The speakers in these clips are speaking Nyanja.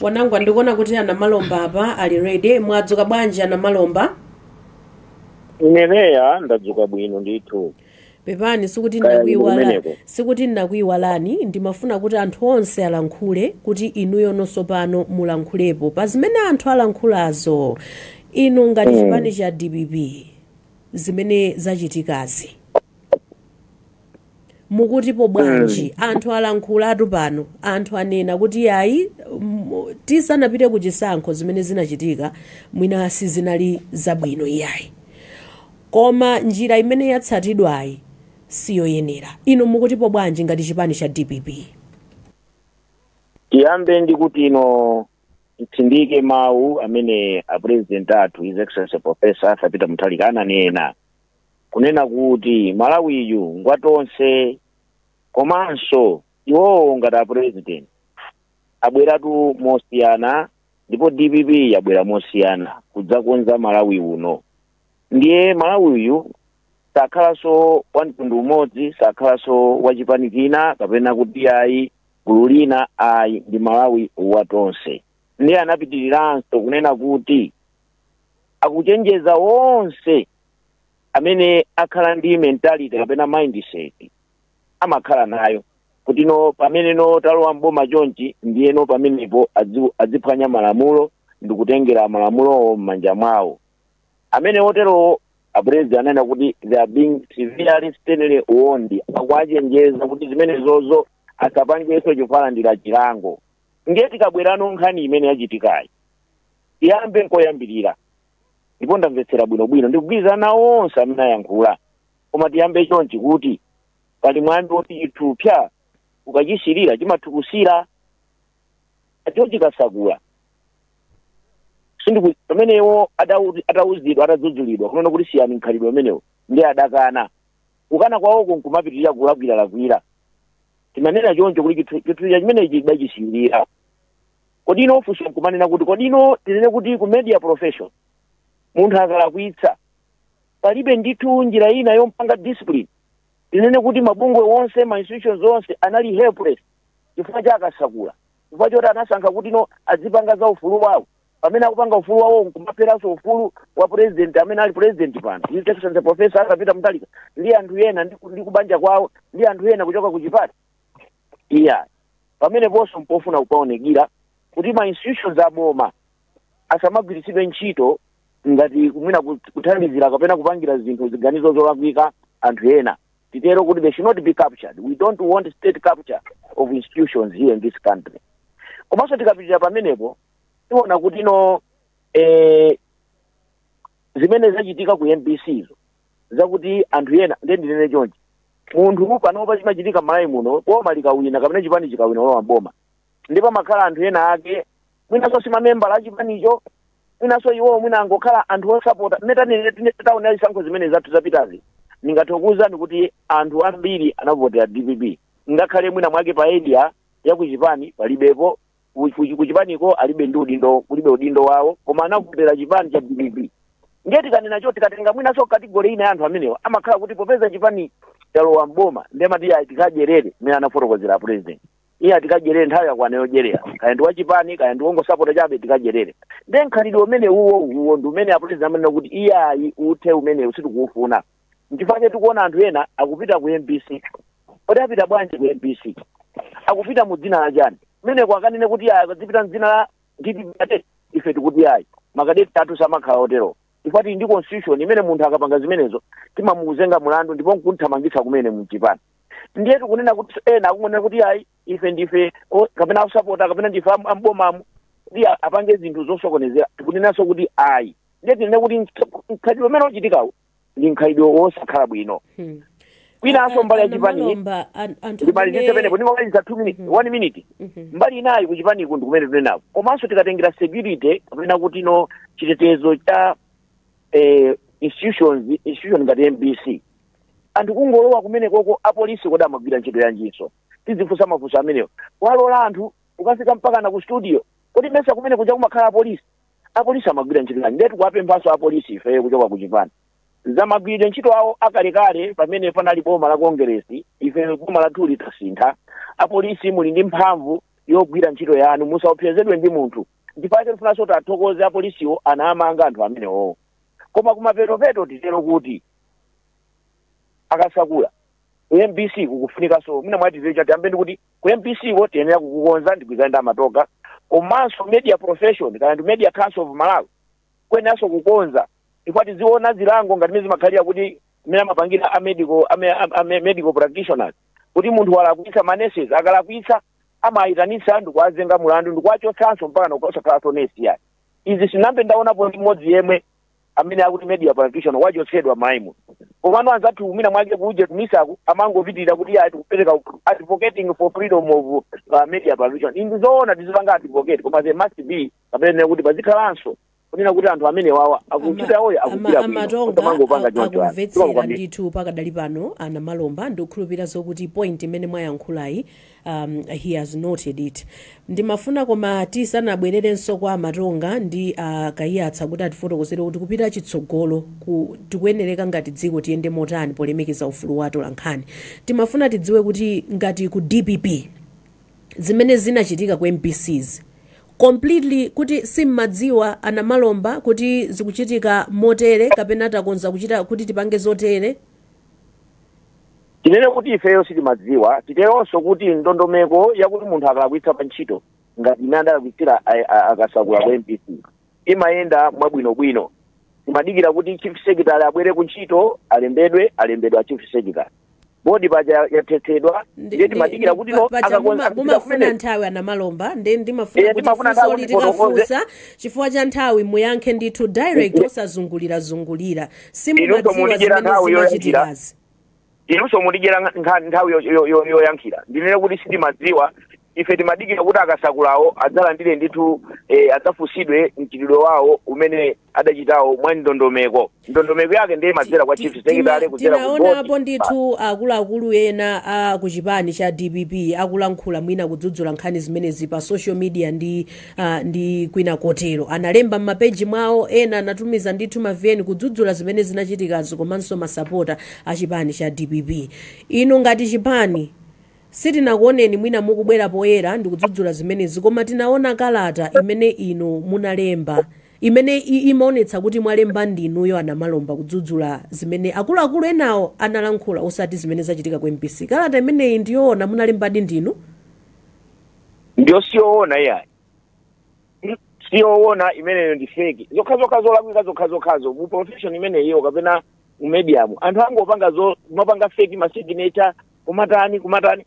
Wanangwa ndikuona kuti a Namalomba apa ali ready. Mwadzuka bwanji a Namalomba? Ine Leah ndadzuka bwino ndithu. Pepani sikuti Kaya ndinakuiwala ndikumeneko. sikuti ndinakuiwalani ndimafuna kuti anthu onse alankhule kuti inuyo nonso pano mulankhulepo pa zimene anthu alankhulazo inu ngati Mm. chipani cha dpp zimene zachitikazi mukutipo bwanji mm. anthu alankhulatu pano anthu anena kuti ayi tisanapite ku chisankho zimene zinachitika mwina sizinali zabwino iyayi koma njira imene yatsatidwayi siyoyenera inu mukutipo bwanji ngati chipani cha dpp tiyambe ndi kuti ino titsindike mawu amene a president athu his excellency professor arthur peter mutharika ananena kunena kuti malawiyu ngwa tonse komanso iwowo ngati a president abweratu mosiyana ndipo dpp yabwera mosiyana kudzakonza malawi uno ndiye malawi uyu sakhalanso wa mtundu umodzi sakhalanso wa chipani china kapena kuti ayi gulu lina ayi ndi malawi wa tonse ndiye anapitiriranso kunena kuti akuchenjeza onse amene akhala ndi mentality kapena mindset amakhala nayo kuti no pamene no talowa m'boma chonchi ndiye no pamenepo adzi- adziphwanya malamulo ndi kutengera malamulowo m'manja mwawo amene oterowo a president anena kuti they are being severely sternly warned akuwachenjeza kuti zimenezozo asapangenso chifukwa alandira chilango ndiye tikabwerano nkhani imene yachitikayi tiyambe nkoyambirira ndipo ndamvetsera bwinobwino ndikugwirizana nawo onse amene ayankhula koma tiyambe chonchi kuti pali mwambi woti chithupsa ukachisiirira chimatukusira a george kasakula sindiku pamene iwo adau- atauzidwa atadzudzulidwa kunena kuti siyani mkhalidwe umenewo ndiye adakana kukana kwawoko nkumapitirira kulakwiralakwira timanena choncho kuti chithu- chithupsa chimenechi tidachisiirira kodi ino funso nkumanena kuti kodi ino tinene kuti ku media profession munthu akalakwitsa palibe ndithu njira ina yompanga discipline tinene kuti mabungwe onse ma institutions onse anali helpless chifukwa cha a kasakula chifukwa choti anasankha kuti no azipanga za ufulu wawo pamene akupanga ufulu wawo nkumapheranso ufulu wa president amene ali president pano his excellency professor arthur peter mutharika ndi anthu ena ndi ku- ndi kubanja kwawo ndi anthu ena kuchoka ku chipani iya pameneponso mpofuna kupaonekira kuti ma institutions aboma asamagwiritsidwe ntchito ngati kumwina kut- kuthandizira kapena kupangira zinthu ziganizo zolakwika anthu ena titero kuti they should not be captured we don't want state capture of institutions here in this country komanso tikapitira pamenepo tiona kuti no eh, zimene zachitika ku mbc zo zakuti anthu ena ndiye ndinene chonchi munthu panopa chimachitika m'malawi muno boma likawina kapena chipani chikawina walowa m'boma ndi pomakhala anthu ena ake mwinanso si mamembala a chipanicho mwinanso iwowo mwina angokhala anthu osapota mutaona zisankho zimene zathu zapitazi ndingathe kukuwuzani kuti anthu ambiri anavotera dpp ngakhale mwina mwake pa area ya kuchipani palibepo ku- ku- kuchipaniko alibe ndi udindo kulibe udindo wawo koma anavotera chipani cha dpp ndiye tikanena cho tikatenga mwinanso category ina ya anthu amenewa amakhala kuti popeza chipani chalowa mboma ndiye amati ayi tikadyerere mmene anafotokozera a president iye ati tikadyerere nthawi yakwana yodyerera kaya ndi wachipani kaya ndi wongosapota chabe tikadyerere ndiye mkhalidwe umene uwo uwo ndi umene a president amanena kuti iye ayi uthe umenewu sitikuufuna nchifukwa chake tikuona anthu ena akupita ku mbc kodi apita bwanji ku mbc akupita mu dzina la chani kumeneko akanene kuti aya akadzipita mdzina la dpp kadeti ife tikuti ayi makadeti athu samakhala otero chifukwa tili ndi constitution imene munthu akapanga zimenezo timamuzenga mulandu ndipo nkumuthamangitsa kumene mchipani ndiye tikunena kuti ena akungonena kuti ayi ife ndife o- kapena akusapota kapena ndife am- ambomamu kuti a- apange zinthu zosokonezera tikunenanso kuti ayi ndiye tinene kuti mkhalidwe umene uchitikawo ndi mkhalidwe wosakhala bwino Hmm. kwinanso mbali ya chipani ndimalizitse penepo ndimaliza two minute one minute Mhm. mbali inayi kuchipaniku ndikumene tunenako komanso tikatengera security kapena kuti no chitetezo cha eh, institution ngati mbc anthu kungolowa kumene koko apolisi kodi amagwira ntchito yanjinso tidzifunsa mafunso amenewo walola anthu kukafika mpakana ku studio kodi mesa kumene kuja kumakhala apolisi apolisi amagwira ntchito yanji ndiye tikuwapemphanso apolisi ifeyo kuchoka ku chipani za magwiridwe ntchito awo akalekale pamene panali boma la kongeresi ife boma lathu litasintha apolisi muli ndi mphamvu yogwira ntchito yanu musaopsezedwe ndi munthu nchifukwa chake tifunanso tiwathokoze apolisiwo anamanga anthu amenewowo koma kumapetopeto titero kuti akasakula mbc kukufunikanso mwina mwake tiyambe ndi kuti ku mbcko tiyenera kukukonza ndigwirizana ndi a matoga komanso media profession kaya ndi media council of malawi kuyeneranso kukonza chifukwa tiziona zilango ngati mmene zimakhalira kuti mmene amapangira a medical a, me- a, a me- medical practitioners kuti munthu walakwitsa maneses akalakwitsa amawayitanitsa ndikuwazenga mulandu ndikuwachotsanso mpakana kusakhalanso nesi yani izi sinambe ndaonapo ndi mmodzi yemwe amene akuti media practitioner wachotsedwa maimu komano anzathu mwina mwake kuje ku misaku amangopitirira kuti ayi tikupereka advocating for freedom of uh, media practitioner inde zoona tizipanga advocate koma there must be kapena kuti pazikhalanso kunena kuti anthu amene wawa akuchita yawoyo akuchita bwino a matonga osamangopanga choncho anthu akumvetsera kwambiri ndithu pakadali pano a namalomba ndikukhulupirira zokuti point imene mwayankhulayi um, he has noted it ndimafuna koma tisanabwererenso kwa a matonga ndi a kaiyatsa kuti atifotokozere kuti kupita chitsogoloku, tikuyenereka ngati dziko tiyende motani polemekeza ufulu wa atolankhani timafuna tidziwe kuti ngati ku dpp zimene zinachitika ku mbczi completely kuti simmadziwa a namalomba kuti zikuchitika motere kapena takonza kuchita kuti tipange zotere Tinene kuti ifeyo sitimadziwa, titeronso kuti ndondomeko yakuti munthu akalakwitsa pa ntchito ngati imene adalakwitsira a- a- a Kasakula ku MBC imayenda mwabwinobwino. Timadikira kuti chief secretary abwere ku ntchito alembedwe, alembedwa chief secretary. Bodi paja yathetsedwa, Ndi- ndiye ndi- timadikira ndi- kuti pa- no paja akakonza muma- kupita mumafuna kumene. nthawi a Namalomba ndi ndimafuna Eh, kuti timafuna funso nthawi kuti litikafunsa chifukwa cha nthawi muyankhe ndithu direct osazungulirazungulira Inunso simumadziwa mundidyera zimene nthawi yoyankhira. zimachitikazi inunso mundidyera nkha- nkha- nthawi yo- yo- yo- yoyankhira ndinene kuti sitimadziwa ife timadikira kuti a kasakulawo adzalandire ndithu eh, adzafunsidwe mchitidwe wawo umene adachitawo mwa ndondomeko ndondomeko yake ndiye imadzera kwa chief secretary kudzera ku tinaonapo board. ndithu akuluakulu ena a ku chipani cha dpp akulankhula mwina kudzudzula nkhani zimenezi pa social media ndi ah, ndi kwina kotero analemba m'mapeji mwawo ena anatumiza ndithu ma vn kudzudzula zimene zinachitikazo komanso masapota a chipani cha dpp inu ngati chipani sitinakuoneni mwina mukubwera poyera ndikudzudzula zimenezi koma tinaona kalata imene inu munalemba imene i- imaonetsa kuti mwalemba ndinuyo a namalomba kudzudzula zimene akuluakulu enawo analankhula osati zimene zachitika ku mbc kalata imeneyi ndiyoona munalembadi ndinu ndiyo siyoona iyayi siyoona imeneyo ndi feki zokhazokha zolakwika zokhazokhazo mu profession imeneyiyo kapena mu mediamu anthu angopanga zo kumapanga feki masignature kumatani kumatani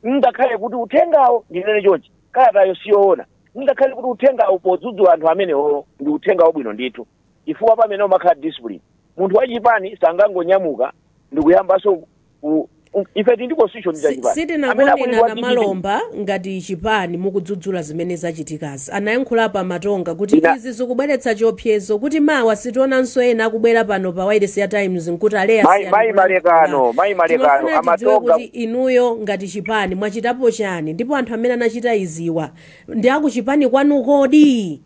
ngakhale kuti uthengawo ndinene chonchi kalatayo siyoona ngakhale kuti uthengawo podzudzula anthu amenewo ndi uthenga wabwino ndithu chifukwa pamene umakhala discipline munthu wachipani sangangonyamuka ndikuyambanso ku- ku- ife tili ndi constitution ya Si- chipani Amene sitinakuoneni a akuyimba na ndi DPP. malomba ngati chipani mukudzudzula zimene zachitikazi anayankhulapo amatonga kuti Ina- izi zikubweretsa chiopsezo kuti mawa sitionanso ena akubwera pano pa wailesi ya times nkuti a leah Mai- mai malekano, mai malekano, amatonga- kuti inuyo ngati chipani mwachitapo chani ndipo anthu amene anachita iziwa ndi akuchipani kwanu kodi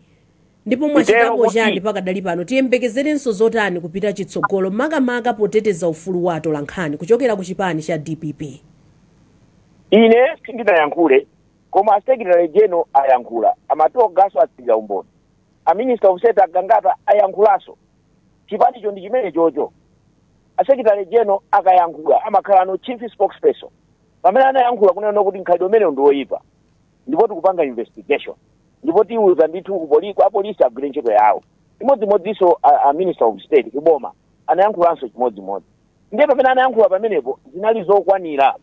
ndipo mwachitapo kuti- chani pakadali pano tiyembekezerenso zotani kupita chitsogolo makamaka poteteza ufulu wa atolankhani kuchokera ku chipani cha dpp ine sindinayankhule koma asekretary general ayankhula amatongaso atsirira umboni aminister of state agangata ayankhulaso chipanicho ndi chimene chocho asekretary general akayankhula amakhalano chief spokesperson pamene anayankhula kunena kuti mkhalidwe umenewu ndi woyipa ndipo tikupanga investigation ndipo tiuza ndithu kupoli- kwa polisi agwire ntchito yawo chimodzimodzinso a, a minister of state kuboma anayankhulanso chimodzimodzi ndiye pamene anayankhula pamenepo zinali zokwanira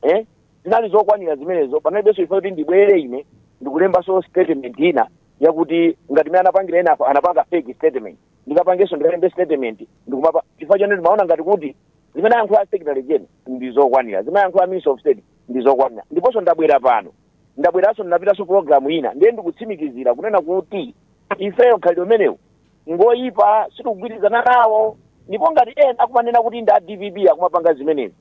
eh? zinali zokwanira zimenezo panalibenso chifukwa kuti ndibwere ine ndikulembanso statement ina yakuti ngati mene anapangira ena apa- anapanga fake statement ndikapangenso ndikalembe statement ndikumapa chifukwa chonena timaona ngati kuti zimene ayankhula secretary general ndi zokwanira zimene ayankhula minister of state ndi zokwanira ndiponso ndabwera pano ndabweranso ndinapitanso pulogalamu ina ndiye ndikutsimikizira kunena kuti ifeyo mkhalidwe umenewu ngoyipa sitikugwirizana nawo ndipo ngati ena akumanena kuti ndi a dpp akumapanga zimenezi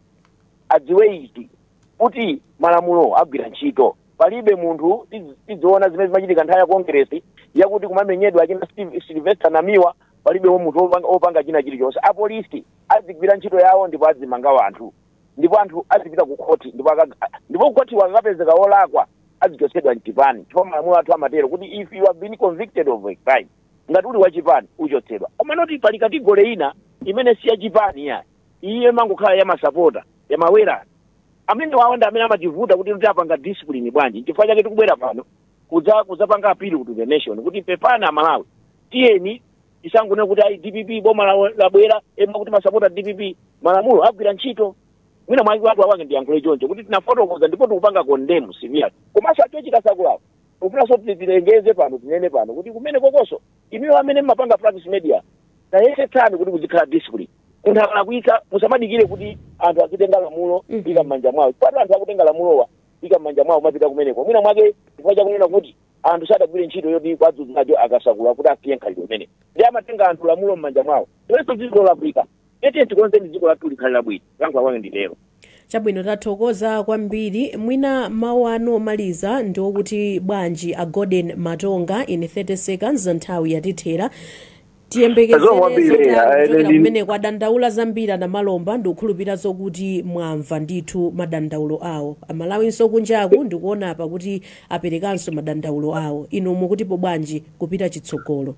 adziwe ichi kuti malamulo agwira ntchito palibe munthu tiz- tidziona zimene zimachitika nthawi ya kongeresi yakuti kumamenyedwa achina Steve- sylvester namiwa palibe wo munthu opanga- opanga china chilichonse apolisi azigwira ntchito yawo ndipo azimanga wanthu ndipo anthu azipita ku khoti ndipo aka- ndipo ku khoti akakapezeka wolakwa azichotsedwa mchipani chifukwa malamulo athu amatero kuti if you have been convicted of a crime ngati uli wachipani uchotsedwa komanotu pali category ina imene si yachipani iyayi imangokhala ya masapota ya mawera amenewawo ndi amene amativuta kuti tiwapanga discipline bwanji chifukwa chake tikubwera pano kudza kudzapanga appeal to the nation kuti pepani amalawi tiyeni tisangonena kuti ayi dpp boma la- labwera ema kuti masapota dpp malamulo agwira ntchito mwina mwake watu awange ndiyankhule choncho kuti tinafotokoza ndipo tikupanga condemn siviyati komanso achina kasakulawo ufunanso kuti tilengeze pano tinene pano kuti kumenekokonso inuyo amene mmapanga practice media tayesetsani kuti kuzikhala discipline munthu akalakwitsa musamadikire kuti anthu azitenga lamulo ika m'manja mwawo chifukwa anthu akutenga lamulowa ika m'manja mwawo mapita kumeneko mwina mwake chifukwa chakunena kuti anthu sadagwire ntchito yoti kuwadzudzula akasakula kuti asiye mkhalidwe umenewu ndiye amatenga anthu lamulo m'manja mwawo izonso ndi zolakwika eti tikonzeni dziko lathu likhale labwino kulankhula kwanga nditero chabwino tathokoza kwambiri mwina mawu anu omaliza ndi okuti bwanji a golden matonga in 30 seconds nthawi yatithera tiyembekezere kumeneko adandaula zambiri anamalomba ndikukhulupirira zokuti mwamva ndithu madandaulo awo amalawinso kunjaku ndikuona apa kuti aperekanso madandaulo awo inu mukutipo bwanji kupita chitsogolo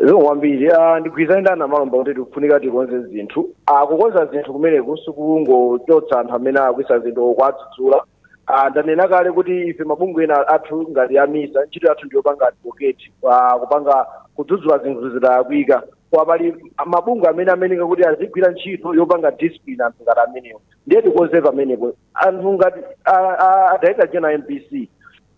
zikomo kwambiri ah, ndigwirizane ndi anamalomba kuti tikufunika tikonze zinthu Ah, kukonza zinthu kumeneku sikungochotsa anthu amene alakwitsa zinthu or kuwadzudzula Ah, ndanena kale kuti ife mabungwe ena athu ngati a MISA ntchito yathu ndiyopanga advocate ah, kupanga kudzudzula zinthu zikalakwika koma pali mabungwe amene ayeneka kuti azigwira ntchito yopanga discipline anthu ngati amenewo ndiye tikonze pamenepo anthu ngati ah, ah, director general MBC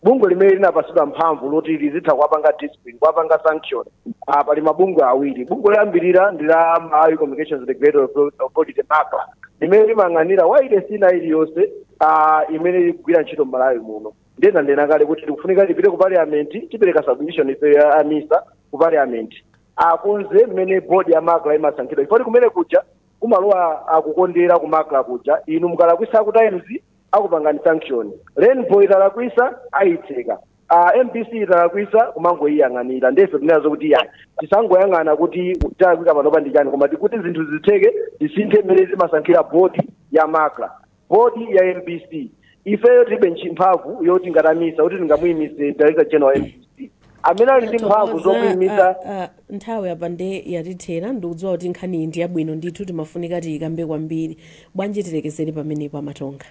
bungwe limene linapatsidwa mphamvu loti lizitha kuwapanga discipline kuwapanga sanction ah, pali mabungwe awiri bungwe loyambirira ndi la malawi communications regulatory Authority- authority MACRA limene limayang'anira wailesi ina iliyonse ah, imene ikugwira ntchito m'malawi muno ndanena kale kuti tikufunika tipite ku parliament tipereke submission ife a MISA ku parliament akonze mmene board ya MACRA imasankhidwa chifukwa kumene kuja kumalowa akukondera ku MACRA kuja inu mukalakwisa ku Times akupangani sanction Rainbow italakwisa ayitseka uh, MBC italakwisa kumangoyiyang'anira ndefe tinazo kuti iyayi tisangoyang'ana kuti chalakwika panopa ndi chani koma tikuti zinthu zitheke tisinthe mmene timasankhira bodi ya MACRA bodi ya MBC ifeyo tilibe ntchi- mphamvu yoti ngati a MISA kuti tingamuyimise director general wa MBC amene ali ndi mphamvu zokuyimitsa Ah, ah, nthawi apa nde yatithera ndikudziwa kuti nkhani iyi ndi yabwino ndithu timafunika tiyikambe kwambiri bwanji tilekezere pamenepo a Matonga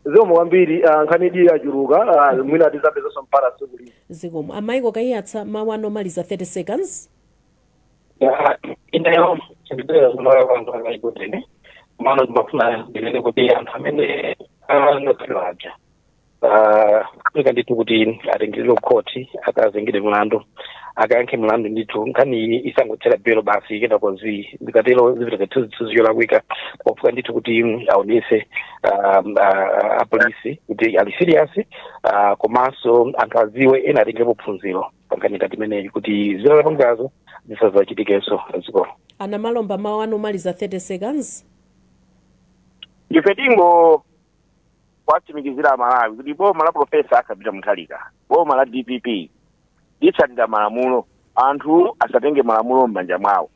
zikomo kwambiri ah, nkhani iyi yachuluka ah, mwina tizapezanso mpata tsiku lina zikomo a Michael Kaiyatsa mawu anu omaliza 30 seconds inayo chindibera kunoya kwanza akaikutene mano timafuna zilele kuti anthu amene anakhalira aja Ah, kufunika ndithu kuti atengeredwe kukhoti akazengedwe mlandu akayankhe mlandu ndithu nkhani iyi isangothera bail basi kenako zi zikatero zipitaka thuzithuzi zolakwika pofunika ndithu kuti mm, aonese ah, ah, apolisi kuti ali serious ah, komanso anthu aziwe ena atengerepo phunziro pankhani ngati imeneyi kuti zimene apangazo zisazachitikenso zikomo a Namalomba mawu anu omaliza 30 seconds ife tingo kuwatsimikizira Amalawi kuti boma la Profesa Arthur Peter Mutharika, boma la DPP litsatira malamulo, anthu asatenge malamulo m'manja mwawo,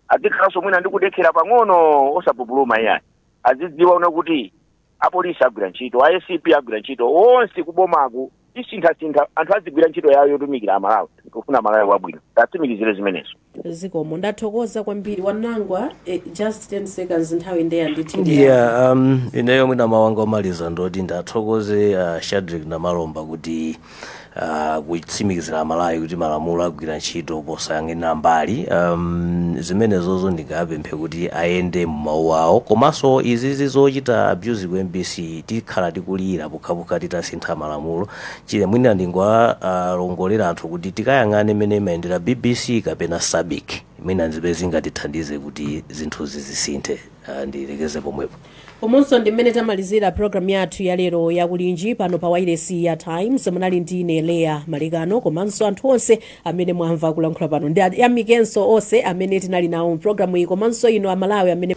azikhalanso mwina ndi kudekhera pang'ono osapupuluma iyayi, azidziwa kunena kuti apolisi agwira ntchito, a ACB agwira ntchito, onse kubomaku tisintha anthu azigwira ntchito yawo yotumikira amalawi kufuna malawi wabwino tiwatsimikizire zimenezo zikomo ndathokoza kwambiri Wanangwa eh, just 10 seconds nthawi nde yandithera yeah um, ineyo mwina mawu anga omaliza ndoti ndithokoze uh, Shadrick Namalomba kuti uh, kutsimikizira amalawi kuti malamulo agwira ntchito posayang'anira mbali um, zimenezozo ndingapemphe kuti ayende mu mawu awo komanso izizi zochita abuse ku MBC tikhala tikulira pokhapokha titasintha malamulo chile mwina ndingowalongosolera anthu kuti tikayang'ane mmene imayendera bbc kapena sabc mwina ndi zimene zingatithandize kuti zinthuzi zisinthe Ah, ndilekeze pomwepo umunso ndi m'mene tamalizira programu yathu ya lero ya Kulinji pano pa wailesi ya times munali ndi ine Leah Malekano komanso anthu onse amene mwamva kulankhula pano ndiyamikenso onse amene tinali nawo mu programu iyi komanso inu amalawi amene